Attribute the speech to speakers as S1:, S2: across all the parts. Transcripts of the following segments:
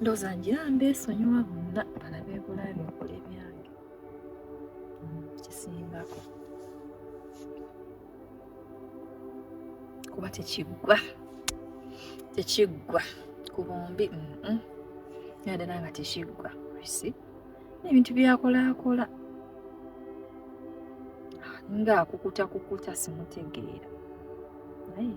S1: ndoza ngira mbesonyiwa bonna balabe bulabi okola ebyange mm, kisingako kuba tekiggwa tekiggwa ku bombi nadala nga tekiggwa si ebintu byakolakola ngaakukuta kukuta simutegeera naye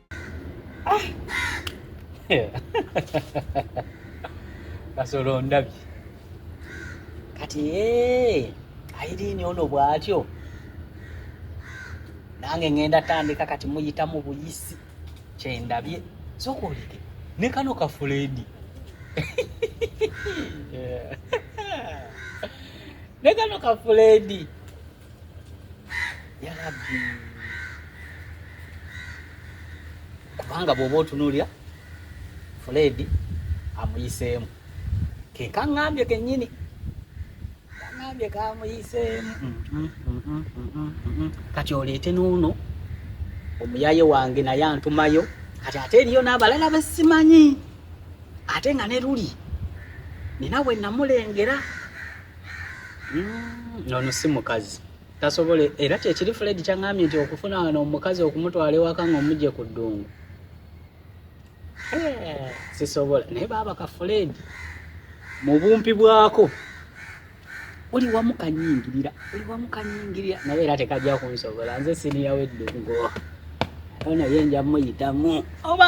S2: kasolo ah. ndabye kati eh, ayirini ono bwatyo nange ngenda tandika kati muyitamu buyisi kyendabye sokoleke ne kano kafuledi ne kano kafuledi yarabi kubanga bwoba otunulira fuledi amuyiseemu kekaŋambye kenyini kaŋambye kamuyiseemu kati oleete noono omuyaye wange naye antumayo kati ate eriyo n'abalala besimanyi ate nga ne luli nina we namulengera Mm, ono si mukazi tasobola era kyekiri fred kyaŋambye nti okufuna wano omukazi okumutwala ewaka nga omugye ku ddungu eh, sisobola naye baaba ka fred mu bumpi bwako oli wamu kanyingirira oli wamu kanyingirira naye era tekajja kunsobola nze siniya weddungu ono ye nja muyitamu oba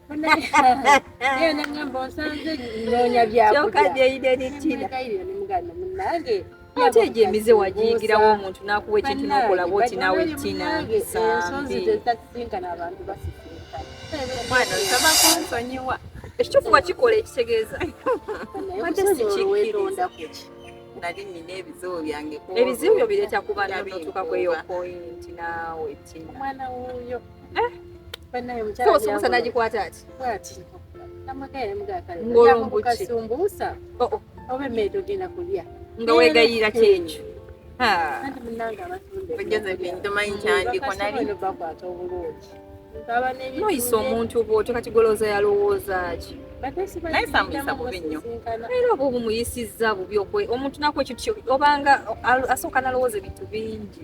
S3: ate egyo emize
S1: wagiyigirawo omuntu n'akuwa ekintu n'okola bwoti nawe tina omwana
S3: osaba
S1: kunsonyiwa ekituufu wakikola ekitegeeza ate sikironda kuki nali nina
S4: ebizibu byange ebizibu byo bireeta
S1: kuba nabituuka kweyo pointi naawe tina omwana wuuyo Eh? Sumbusa nagikwata ati
S3: ngolombukiasumbusa
S1: oh, oh. oba
S3: emmere togenda kulya nga wegayira
S1: kyekyo noyisa omuntu bwotyo kati golooza yalowooza ki naye samuyisa
S4: bubi nnyo era oba
S1: obumuyisizza bubi omuntu naku ekintu obanga asooka nalowooza ebintu bingi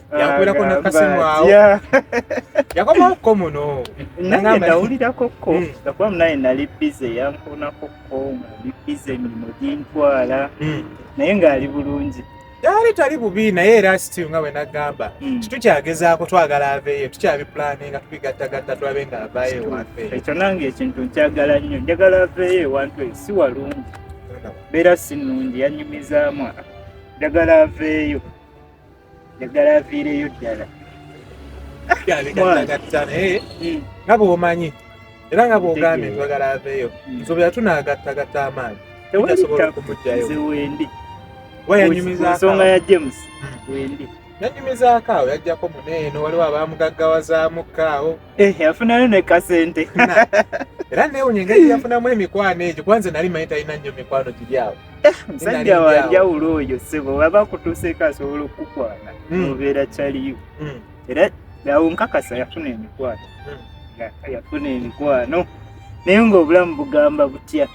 S5: yakulako nakasimwawo yakomaokko muno naye
S6: nawulirako-ko hmm. gakuba munaye nali bize yankonako-ko ngali bize emirimu gintwala hmm. naye ngaali bulungi yali
S5: tali bubi naye era sitiu nga wenagamba hmm. kitukyagezaako twagala aveeyo tukyabipulani nga tubigattagatta tulabe nga avayo ewafe ekyo nange ekintu
S6: nkyagala nnyo njagala aveeyo ewantu eyo si walungi beera si nnungi yanyumizaamu njagala aveeyo njagala aviireyo ddala
S5: eh? hmm. nga bwomanyi era nga bwogambye twagala aveeyo hmm. nsobera tunagattagatta amaanyi asobola okumugjayo
S6: wayanyumizaensonga
S5: ya james
S6: hmm. wendi yanyumizaako
S5: awo yajjako muneeno waliwo abamugaggawazaamukko awo eh, yafunayo
S6: nekasente era
S5: newunya engeri yafunamu emikwano egyo kubanze nali manyi talina nnyo mikwano giri awo Eh, musajja
S6: wanjawulo oyo sebo waba akutuuseeko asobola okukukwana hmm. nobeera kyaliyo hmm. era awo nkakasa yafuna emikwano hmm. yafuna emikwano naye ngaobulamu bugamba butya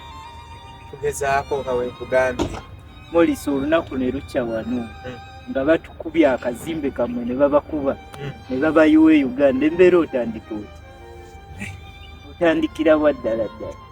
S6: tugezaako
S5: nga wekugambye molisa
S6: olunaku ne lukya wano nga batukubye akazimbe kamwe ne babakuba ne babayiwa e uganda embeera otandika oti eh. otandikira wa ddala ddala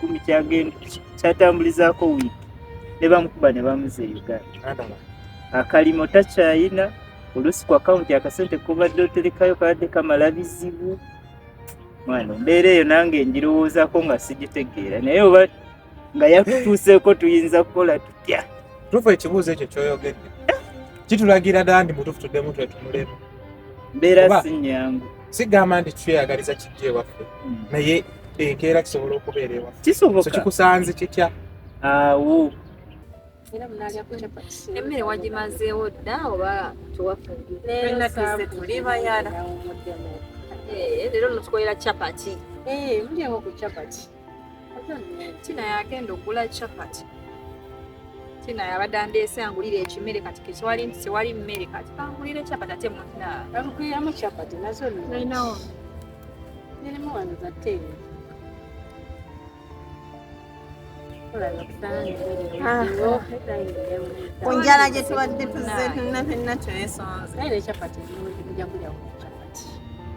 S6: kumi kyagenda kyatambulizaako wiiki ne bamukuba ne bamuza e uganda akalimo takyayina oluusi ku akawunti akasente kobadde oterekayo kabadde kamala bizibu mwana embeera eyo nange ngirowoozako nga sigitegeera naye oba nga yakutuuseeko tuyinza kukola tutya tufu ekibuuzo
S5: ekyo kyoyogedde kitulagira dandi mutufu tuddemu twetunulemu mbeera
S6: si nyangu sigamba nti
S5: tweyagaliza kijja ewaffe hmm. naye enkeera kisobola okubeera ewaffe kisoboka kikusanze
S6: kitya
S5: awo
S1: emmere wagimazeewo dda oba
S4: tewafulira eh, leero
S1: notukolera chapati eh, mulyeko ku
S3: chapati
S1: tina yagenda okugula chapati tina yabadde andeese angulire ekimere kati ketwali nti tewali mmere kati kangulire chapati ate munaamukuyiramu chapati
S3: nazo ninawo nirimu wano zateeyo
S4: ah. ku njala gye tubadde tuzze tunna fenna twesonze naye nekyapati
S3: njakulya chapati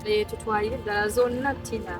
S3: eh, tutwalire ddala
S1: zonna tina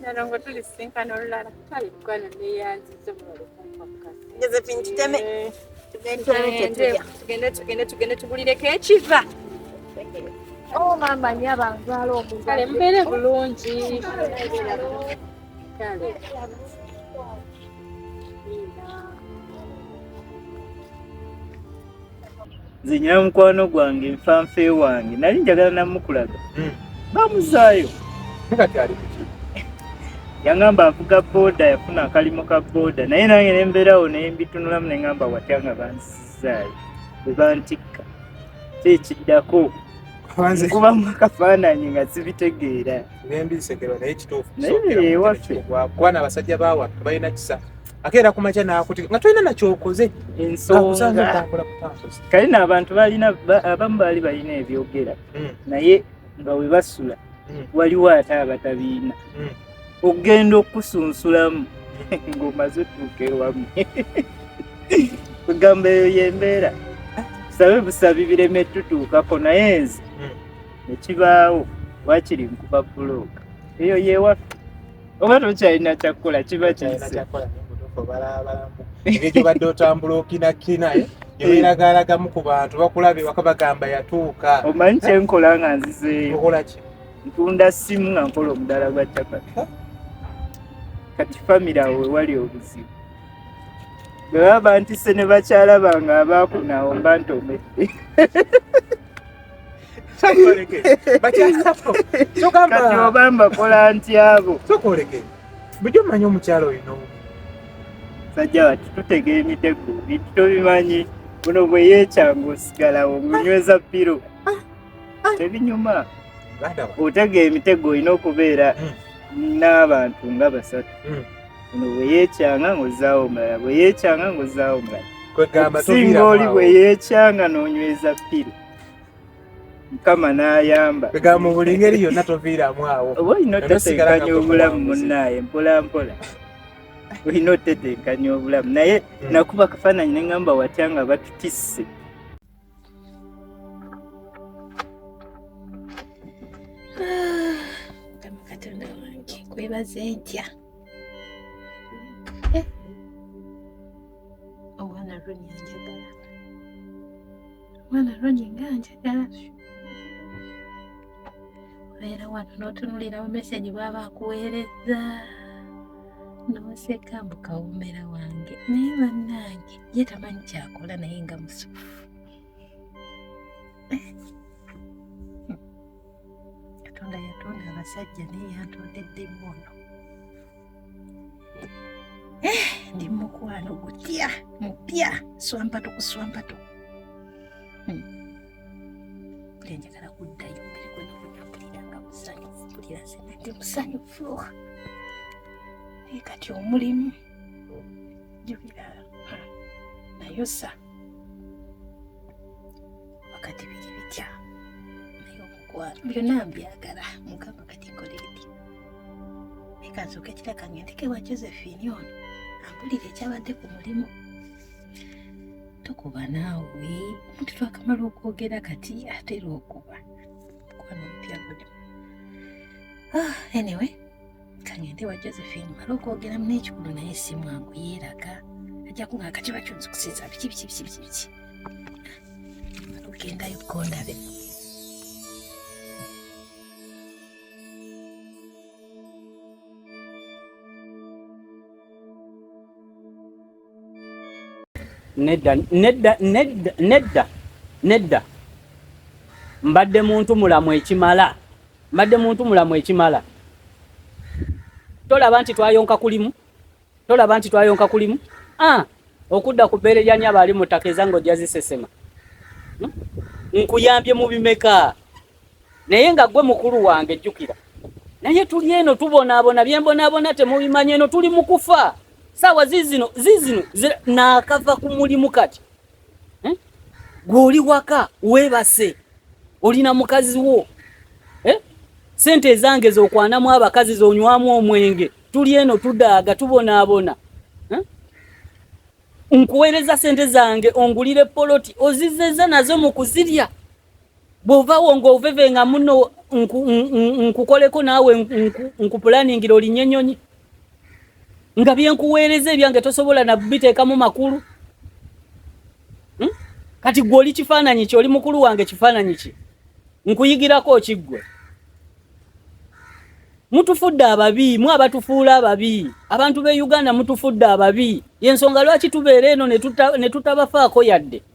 S3: nalongo
S4: tulisinkana
S3: olulala kale
S4: mukwano neyanziza josephine tuteme
S1: eh. tugende tugende tubulireko ekiva oh, maama nyo abanzaala omukale mubeere bulungi
S3: kale
S6: nze nyina mukwano gwange nfanfe wange nali njagala namukulaga hmm. bamuzaayo
S5: yangamba
S6: avuga boda yafuna akalimo ka boda naye nange nembeerawo naye mbitunulamu nengamba watya nga bansizaayo bebantikka kyekiddako nkubamu akafaananyi nga sibitegeera nembi
S5: nsekera naye kituufu
S6: kuba nabasajja
S5: bawa balina kisa ate era kumakya nakuti nga tolina nakyokoze
S6: kale na abantu balina abamu baali balina ebyogera hmm. naye nga webasula hmm. waliwo ate abatabiina hmm. okugenda okusunsulamu ngaomaze otuuka ewamu kugamba eyo yembeera sabe busabi bireme tutuukako naye nze nekibaawo wakiri nkuba bulooka eyo yewaffe oba tokyalina kyakukola kiba kiyise ebyo
S5: gyobadde otambula okinakina eh? eberagaaragamu ku bantu bakulaba ewaka bagamba yatuuka omanyi kyenkola
S6: nga nzizeeyo okolaki
S5: ntunda simu
S6: nga nkola omudala gwa capati kati famire awo wewali obuzibu bwe baba bantise ne bakyala bange abaakunawo mba ntomedde oba mbakola ntyabo kyokoleke
S5: bujo mmanyi omukyalo oyo nomu
S6: sajja bati tutega emitego bintu tobimanyi buno bwe yekyanga osigalawo ngunyweza piro ah, ah. tebinyuma otega emitego olina okubeera hmm. n'abantu nga basatu hmm. ono bwe yeekyanga ng'ozzaawo omulala bwe yeekyanga ng'ozzaawo omulala okusinga oli bwe yeekyanga n'onyweza ppiri mukama n'ayamba egamba mu buli ngeri
S5: yonna toviiramu awo oba olina otetenkanya
S6: obulamu munnaaye mpola mpola olina otetenkanya obulamu naye hmm. nakuba kafaananyi ne ŋŋamba watya nga batutisse
S3: katonda wange kwebaze ntya eh. omwana ronya njagala omwana ronya nga njagala obeera wano n'otunulirawo meseji bwaba akuweereza n'oseka mbu kawomera wange naye bannange ye tamanyi kyakola naye nga musufu katonda yatonda abasajja naye yantondedde mwono Eh, ndi mukwano gutya mupya swampatu ku swampatu hmm. buli njagala kuddayo mbere gwenakudapulira nga musanyufu pulira senate musanyufu naye kati omulimu jubira nayosa wakati biri bitya naye omukwano byonna mbyagala mukama kati nkoleeti naye kansoka ekiraka ngendeke wa josephine ono ampulira ekyabadde ku mulimu tokuba naawe omuntu twakamala okwogera kati atera okuba mukwana omupya guno ah, anyway kangende wa josephine mala okwogeramu n'ekikulu naye si mwangu yeeraga ajja kunga akakiba kyonzikusiza biki biki biki biki biki mala ogendayo kugondabe nedda nedda nedda nedda nedda mbadde muntu mulamu ekimala mbadde muntu mulamu ekimala tolaba nti twayonka kulimu tolaba nti twayonka kulimu ah okudda ku bbeere lya nyaba ali mu ttaka ezange ojja zisesema hmm? nkuyambye mu bimeka naye nga gwe mukulu wange jjukira naye tuli eno tubonaabona byembonaabona temubimanyi eno tuli mu kufa saawa zizino zizino naakava ku mulimu kati eh? gwe oli waka weebase olina mukazi wo eh? sente ezange zokwanamu abakazi zonywamu omwenge tuli eno tudaaga tubonaabona eh? nkuweereza sente zange ongulire poloti ozizeza nazo mu kuzirya bwovawo nga oveve nga muno nkukoleko naawe nkupulaningira olinye enyonyi nga byenkuweereza ebyange tosobola nabiteekamu makulu hmm? kati gwe oli kifaananyi ki oli mukulu wange kifaananyi ki nkuyigirako kiggwe mutufudde ababi mwe abatufuula ababi abantu be uganda mutufudde ababi yensonga lwaki tubeera eno ne tutabafaako yadde tuta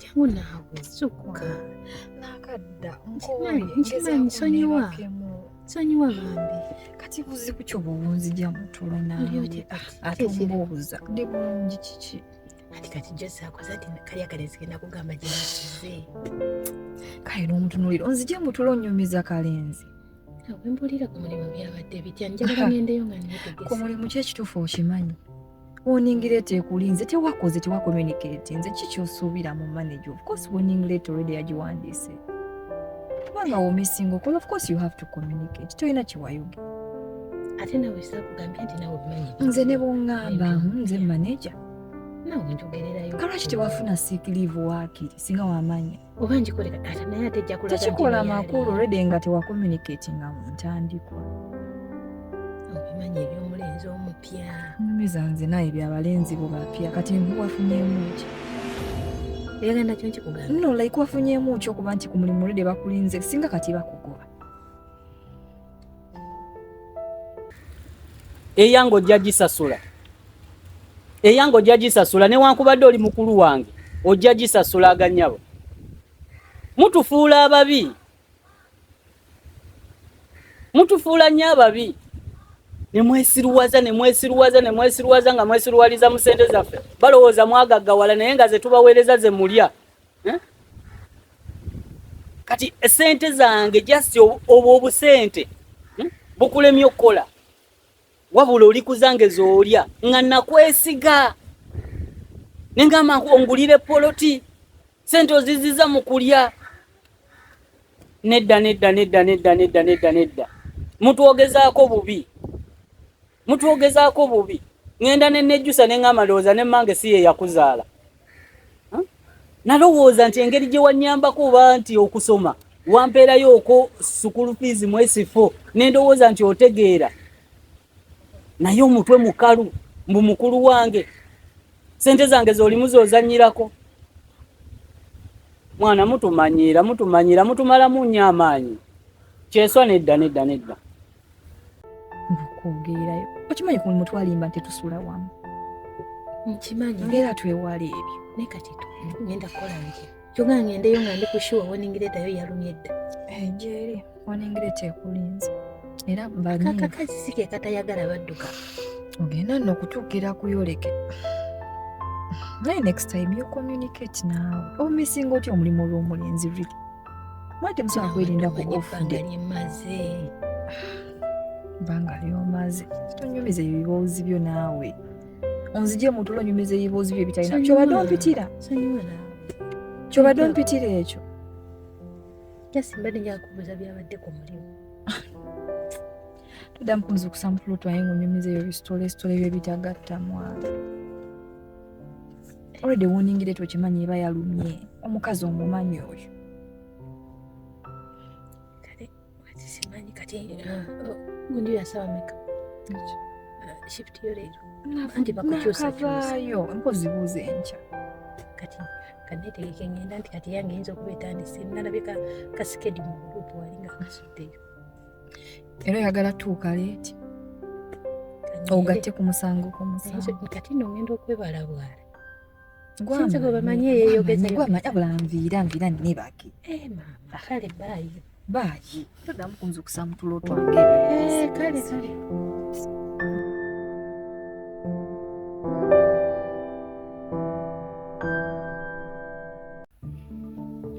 S1: jamu naawe
S7: sukka nakadda
S1: nkimanyi
S7: nkimanyi sonyiwa sonyiwa bambi kati buzibu
S1: kyo bwonzija mutulo naye ate mbuuza ndi bulungi kiki ati kati jose
S7: akoze ati kali akalezi kenda kugamba gyenakize
S1: kale n'omutunulira onzije mutulo onyumiza kalenzi wembulira
S7: ku mulimu byabadde bitya njagala ngendeyo nga ku mulimu kyekituufu
S1: okimanyi warning letter ekulinze tewakoze tewa communicate nze kikyosuubira mu manager of course warning letter already yagiwandiise kubanga womisinga okola of course you have to communicate tolina kiwayoge ate
S7: nawe sakugambye nti nawe obimanyi nze ne bwongamba
S1: nze manager nawe
S7: njogererayo kalwaki tewafuna sick
S1: leave waakiri singa wamanya oba ngikolera taata
S7: naye ate ejja kulaga tekikola makulu redi
S1: nga tewakomunikati nga mu ntandikwa
S7: obimanyi ebyomulenzi omupya nyumiza nze naye
S1: byabalenzi bo bapya kati wafunyemu ki
S7: eyagenda kyo nkikugamba no like wafunyemu
S1: ki okuba nti ku mulimu redi bakulinze singa kati bakugoba
S3: eyange ojja gisasula eyange ojja gisasula newankubadde oli mukulu wange ojja gisasula aganyabo mutufuula ababi mutufuula nnyo ababi nemwesiruwaza nemwesiruwaza nemwesiruwaza nga mwesiruwaliza mu sente zaffe balowooza mwagaggawala naye nga zetubaweereza ze mulya kati sente zange just obwo obusente hmm? bukulemye okukola wabula oli kuzange zolya nga nakwesiga nengamba ongulire poloti sente oziziza mu kulya nedda nedda nedda nedda nedda nedda nedda mutwogezaako bubi mutwogezaako bubi ŋenda nenejjusa neŋama ndowooza ne mange si ye yakuzaala nalowooza nti engeri gye wanyambako oba nti okusoma wampeerayo oko sukulu fiizi mwesifo nendowooza nti otegeera naye omutwe mukalu mbu mukulu wange sente zange zolimu zozanyirako mwana mutumanyiira mutumanyiira mutumalamu nnyo amaanyi kyeswa nedda nedda nedda
S1: okwogeerayo okimanyi ku mutwalimba nti tusula wamu
S7: nkimanyi ngera twewala
S1: ebyo naye kati
S7: ngenda kukola nti kyoga ngendeyo nga ndi kushuwa woningiretayo yalumye dda eh, gyeri
S1: woningireta ekulinze era kakakazi si
S7: ke katayagala badduka ogenda
S1: nokutuukira kuyoleke naye next time you communicate naawe omisinga otya omulimu olw'omulenzi really mwete musobola kwerinda ku ofudde banga lyomaze tonyumiza ebyo biboozi byo naawe onzije mutulo onyumiza ebiboozi byo ebitalina kyobadde ompitira
S7: kyobadde
S1: ompitira ekyo
S7: jasimbadde njakubuuza byabadde ku mulimu
S1: toda mpunzi kusampula otwaye ng'onyumiza ebyo bisitole sitole byo bitagatta mwana already warning letter okimanyi eba yalumye omukazi omumanyi oyo
S7: simanyi kati gunju uh, yasaba meka uh, shift yo leero anti bakukyusakavaayo mpozi
S1: buuza enkya kati
S7: kanetegeke ngenda nti kati yange eyinza okuba etandise nalabye kasikedi mu gurupu walinga kasuddeyo era oyagala tuuka
S1: leeti ogatte ku musango ku musango kati no ngenda okwebala
S7: bwala sinzi
S1: gwe bamanyi
S7: eyeyogezayobulanviira
S1: nviira nine baki eh, mama kale
S7: baayi baayi
S1: todamu kunzukusa mutulo twange eh, kale kale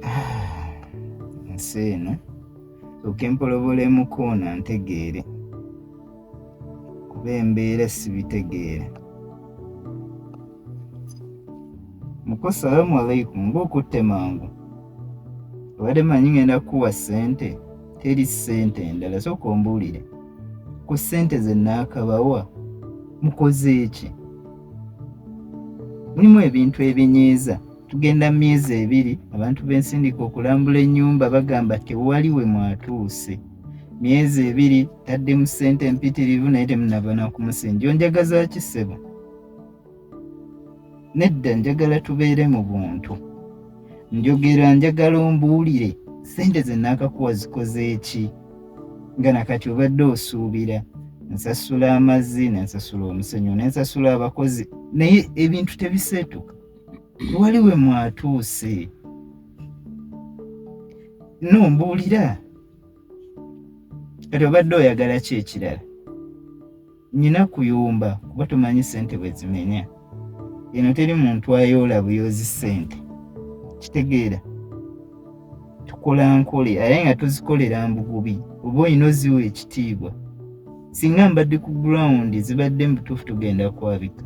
S6: ah, nsi eno soke mpolobolemuko ono antegeere kuba embeera sibitegeera muko salamu alaikum mba okutte mangu obadde manyi ngenda kukuwa ssente teri ssente endala soka ombuulire ku ssente ze naakabawa mukoze eki mulimu ebintu ebinyiiza tugenda mu myezi ebiri abantu bensindika okulambula ennyumba bagamba tewali we mwatuuse myezi ebiri tadde mu ssente empitirivu naye temunabana kumusinja onjagaza kisebo nedda njagala tubeere mu buntu njogera njagala ombuulire ssente ze naakakuwa zikoze eki nga nakati obadde osuubira nsasula amazzi nensasula omusenyu nensasula abakozi naye ebintu tebiseetuka wali we mwatuuse no mbuulira kati obadde oyagala ki ekirala nyina kuyumba kuba tumanyi sente bwezimenya eno teri muntu ayoola buyoozi sente kitegeera tukola nkole aye nga tuzikolera mbugubi oba olina oziwa ekitiibwa singa mbadde ku ground zibadde mubutuufu tugenda kwabika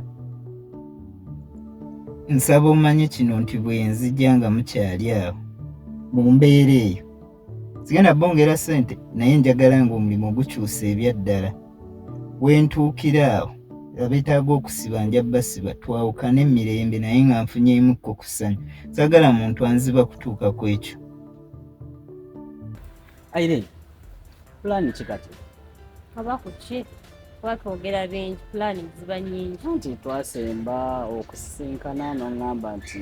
S6: nsaba omanye kino nti bwenzija nga mukyali awo mu mbeera eyo sigenda bongera sente naye njagala nga omulimu gukyusa ebyaddala wentuukira awo abetaaga okusiba nja basiba twawukane mirembe naye nga nfunyemukko ku ssanyu sagala muntu anziba kutuuka ku ekyo
S3: irene pulaani ki kati aba ku
S8: ki kuba twogera bingi pulaani ziba nyingi nti twasemba
S3: okusisinkana n'oŋŋamba nti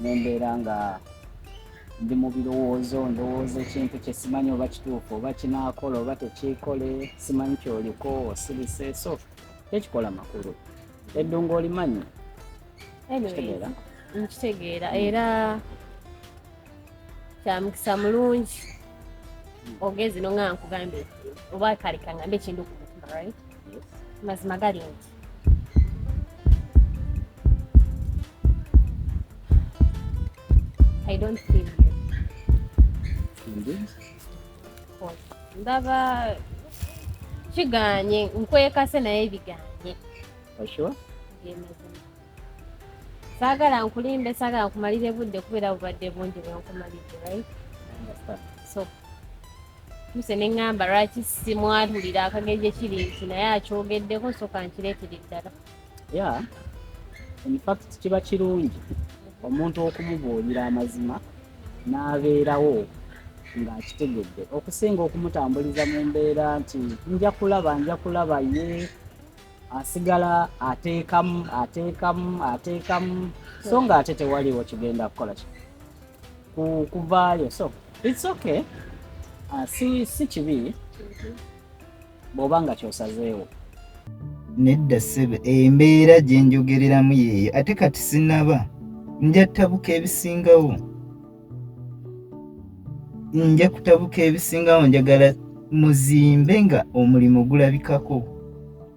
S3: nembeera nga ndi mu birowoozo ndowooza ekintu kye simanyi oba kituufu oba kinaakola oba tekiikole simanyi kyoliko osirise so tekikola makulu eddungu olimanyi kitegeera nkitegeera
S8: era kyamukisa mulungi ogezi no nga nkugambye oba kale kangambe ekintu ku mutima right mazima gali nti I don't feel you.
S3: Indeed. Oh,
S8: ndaba kiganye nkwekase naye biganye. Are
S3: you sure?
S8: saagala nkulimbe saagala nkumalire budde kubeera bubadde bungi bwenkumalidde right so muse ne ŋŋamba lwaki simwatulira akagenje kiri nti naye akyogeddeko soka nkireetera eddala ya
S3: infact kiba kirungi omuntu okumubuulira amazima n'abeerawo ng'akitegedde okusinga okumutambuliza mu mbeera nti nja kulaba nja kulaba ye asigala ateekamu ateekamu ateekamu so ng'ate tewaliwo kigenda kukola kino kuvaayo so it's okay uh, si, si kibi mm -hmm. bw'oba nga kyosazeewo
S6: nedda ssebe embeera gye njogereramu yeeyo ate kati sinaba nja kutabuka ebisingawo nja kutabuka ebisingawo njagala muzimbe nga omulimu gulabikako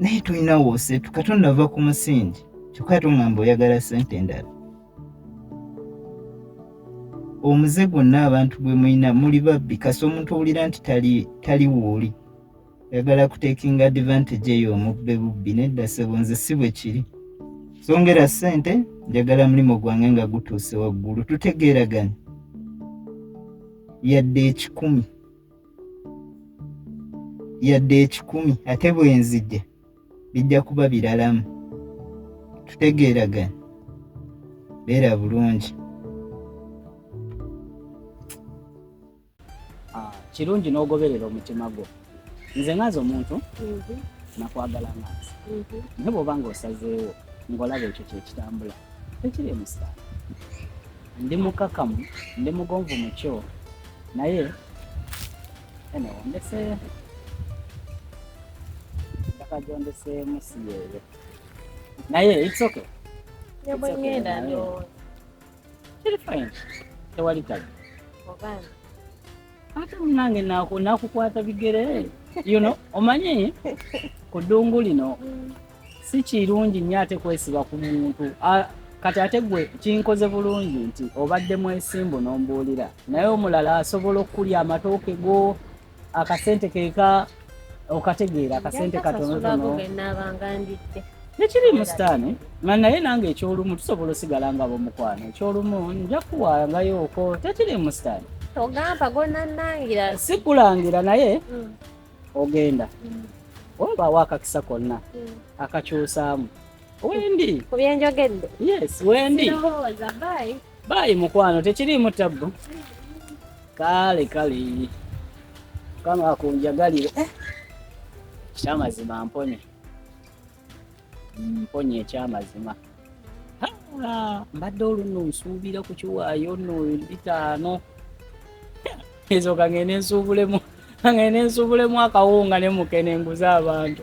S6: naye tulina woseetu katonda ava ku musingi kyokka tungamba oyagala sente endala omuze gwonna abantu gwe mulina muli babbi kasi omuntu owulira nti tali wuuli yagala kutekinga advantage eyo omubbe bubbi nedda sebo nze si bwe kiri songera sente njagala mulimu gwange nga gutuuse waggulu tutegeeraganya yadde ekikumi yadde ekikumi ate bwenzija bijja kuba biralamu tutegeeragana beera bulungi
S3: ah, kirungi n'ogoberera omutima gwo nze ngaazi omuntu mhm. nakwagala ngaazi mhm. naye bwoba nga osazeewo ngaolaba ekyo kyekitambula tekiri emusaala Ndi mukakamu, ndi mugonvu mukyo naye ene ondese mpaka gyondeseemu si yeeyo naye it's okay. Nebwengenda
S8: ndowooza kiri
S3: fine tewali kabi ate munange nakukwata bigere you know omanyi ku ddungu lino mm. si kirungi nnyo ate kwesiba ku muntu kati ate gwe kinkoze bulungi nti obadde mwesimbu n'ombuulira naye omulala asobola okukulya amatooke go akasente keka okategeera akasente katonotono tekirimu sitaani nga naye nange ekyolumu tusobola osigala nga bomukwano ekyolumu nja kuwangayooko tekirimu sitaani ogamba
S8: gonanangira sikulangira
S3: naye mm. ogenda wabaawo akakisa konna akakyusaamu wendi ku byenjogedde
S8: yes wendi baayi mukwano
S3: tekiriimu tabbu kale kale kama akunjagalire eh, kyamazima mponye mponya ekyamazima mbadde oluno nsuubira ku kiwaayo no bitaano ezo kangende nsuubulemu kangende nsuubulemu akawunga ne mukene nguze abantu